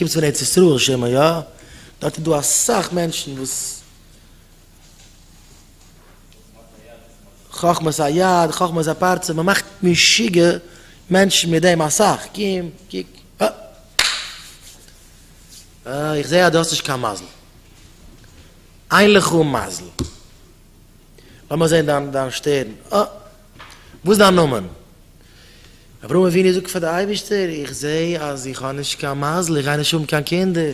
קומסט פון ארץ ישראל שמעון יא? דארט איז דא אסאך מענטשן וואס חכמת היד חכמת הפרצוף מען מאכט משוגע מענטשן מיט דעם אסאך קום קוק אה אה איך זעה אז דו האסט נישט קיין מזל אין לך מזל לאמיר זעהן דיין שטערן אה. וואס איז דיין נאמען? אברהם אבינו זאגט פאר די אייבערשטער, איך זע אז איך האב נישט קיין מזל, איך גיי נישט האבן קיין קינדער,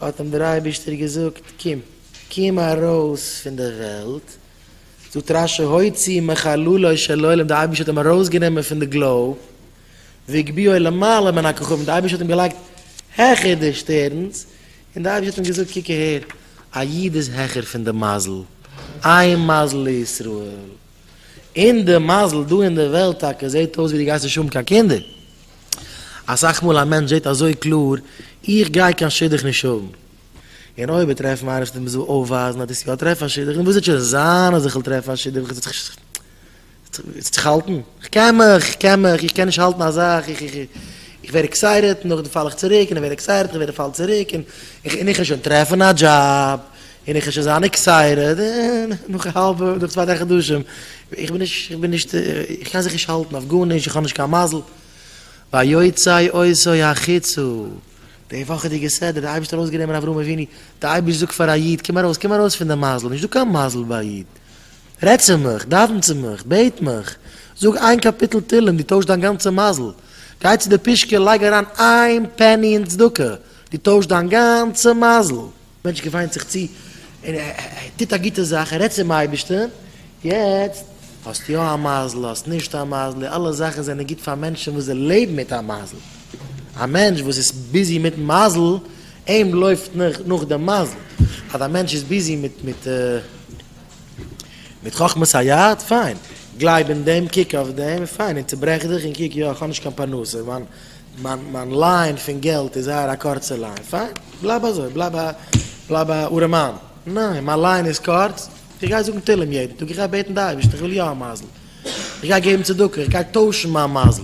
האט אים דער אייבערשטער געזאגט, קום, קום ארויס פון די וועלט, זאגט רש י הוציא מחללו של עולם, די אייבערשטער האט אים ארויס גענומען פון די גלאוב, והגביהו למעלה מן הכוכבים, די אייבערשטער האט אים געלייגט העכער די שטערנס, און די אייבערשטער האט אים געזאגט, קוק אהער, א איד איז העכער פון די מזל, איין מזל לישראל. אין די מזל דא אין די וועלט טאקע זעט אויס ווי די גייסט נישט האבן קיין קינדער. אסאך מאל א מענטש זעט אזוי קלאר, איך גיי קיין שידוך נישט האבן. און אויב ער טרעפט מעריב שטומט מ'זאל אויפווייזן אז דאס יא טרעף א שידוך, און וואס וועט שוין זיין אז איך וועל טרעפן א שידוך, איך וועל זיך האלטן, איך קען מיך, איך קען מיך, איך קען נישט האלטן א זאך, איך איך איך, איך ווער עקסייטעד און נאכדעם פאל איך צוריק, און איך ווער עקסייטעד און איך ווער פאל צוריק, און איך איך וועל שוין טרעפן א דזשאב. און איך שוין זיין עקסייטעד און נאך א האלבע נאך צוויי דריי חדשים איך בין נישט איך בין נישט איך קען זיך נישט האלטן אויף גארנישט איך האב נישט קיין מזל ויוצאי עושי החיצו די וואכעדיגע סדר די אייבערשטער האט אויסגענומען אברהם אבינו די אייבערשטער זאגט פאר א איד קום ארויס קום ארויס פון די מזל נישט דא קיין מזל ביי א איד רעד צו מיך דאווען צו מיך בעט מיך זאג איין קאפיטל תהלים דו טוישט דיין גאנצע מזל גיי צו די פושקע לייג אריין איין פעני אין צדקה דו טוישט דיין גאנצע מזל. מענטש געוויינט זיך צו און ער טוט א גוטע זאך, ער רעדט צום אייבערשטן, יעצט האסט יא א מזל, האסט נישט א מזל, אלע זאכן זענען גוט פאר מענטשן וואס זיי לעבן מיט א מזל, א מענטש וואס איז ביזי מיטן מזל, אים לויפט נאך דעם מזל, אז א מענטש איז ביזי מיט חכמת היד, פיין, גלייב אין דעם, קוק אויף דעם, פיין, און צוברעך דיך און קוק, יא, איך האב נישט קיין פרנסה, מיין מיין מיין ליין פון געלט איז זייער א קורצע ליין, פיין, בלייב אזוי, בלייב א בלייב א ארעמאן, ניין, מיין ליין איז קורץ, איך גיי זאגן תהלים יעדן טאג, איך גיי בעטן די אייבערשטער איך וויל יא א מזל, איך גיי געבן צדקה, איך גיי טוישן מיין מזל.